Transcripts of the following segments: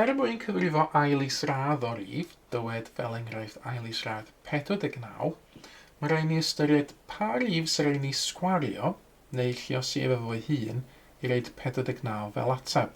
Er mwyn cyfrifo ail isradd o rif, dywed fel enghraifft ail isradd 49, mae rhaid ni ystyried pa rif sy'n rhaid ni sgwario neu lluosi ef efo'i hun i roed 49 fel ateb.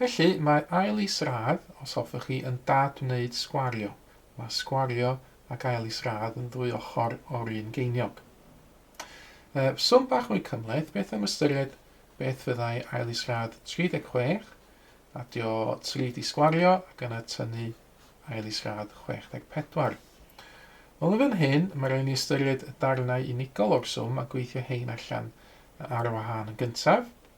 Felly, mae ail is-radd, os hoffech chi, yn dad-wneud sgwario. Mae sgwario ac ail is-radd yn ddwy ochr o'r un geiniog. Yy, swm bach mwy cymhleth, beth am ystyried beth fyddai ail is-radd 36, adio 3 di sgwario ac yna tynnu ail is-radd 64. Wel, yn fan hyn, mae rhaid ni ystyried y darnau unigol o'r swm a gweithio hein allan ar wahân yn gyntaf.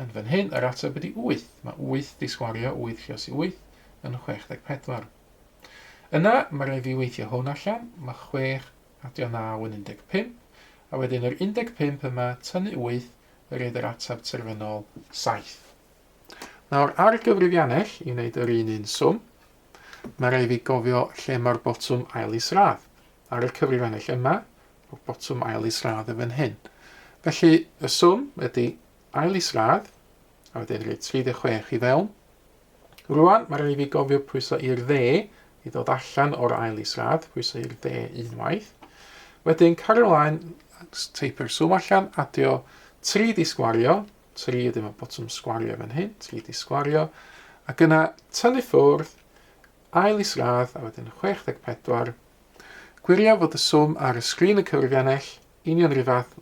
Yn fan hyn, yr ateb ydi wyth. Mae wyth 'di sgwario wyth lluos i wyth yn 64. Yna, mae rhaid fi weithio hwn allan, mae chwech adio naw yn 15, a wedyn yr 15 yma tynnu wyth yn rhaid yr ateb terfynol saith. Nawr, ar gyfrifiannell, i wneud yr un un swm, mae rhaid fi gofio lle mae'r botwm ail isradd. Ar y cyfrifiannell yma, mae botwm ail isradd yn fan hyn. Felly, y swm ydi Ail isradd, a wedyn rhoi 36 i fewn. Rwan, mae rhaid i fi gofio pwyso i'r dde i ddod allan o'r ail isradd, pwyso i'r dde unwaith. Wedyn, cario ymlaen, teipio'r swm allan, adio 3 di sgwario, 3 ydy mae botwm sgwario fan hyn, 3 di sgwario, ac yna tynnu ffwrdd, ail isradd, a wedyn 64. Gwirio fod y swm ar y sgrin yn cyfrifiannell, Union yr un fath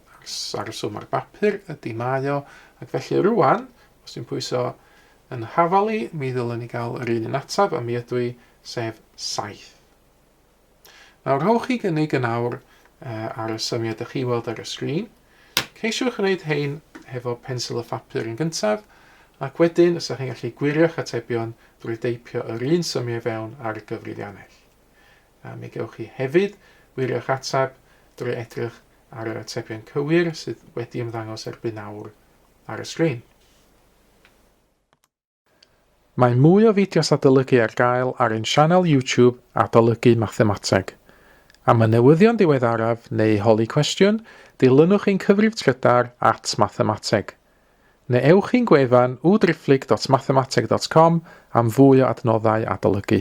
â'r swm ar bapur ydy mae o, ac felly rŵan, os dwi'n pwyso yn hafal i, mi ddylwn i gael yr un un ateb, a mi ydw i, sef 7. Nawr, rhowch chi gynnig yn awr uh, ar y symiau ydych chi weld ar y sgrin. Ceisiwch wneud hein hefo pensil y phapur yn gyntaf, ac wedyn ysach chi'n gallu gwirio'ch atebion drwy deipio yr un symiau fewn ar y gyfrifiannell. a mi gewch chi hefyd wirio'ch ateb drwy edrych ar yr atebion cywir sydd wedi ymddangos erbyn awr ar y sgrin. Mae mwy o fideos adolygu ar gael ar ein sianel YouTube Adolygu Mathemateg. Am y newyddion diweddaraf neu holi cwestiwn, dilynwch ein cyfrif trydar at Mathemateg. Neu ewch i'n gwefan www.driphlyg.mathemateg.com am fwy o adnoddau adolygu.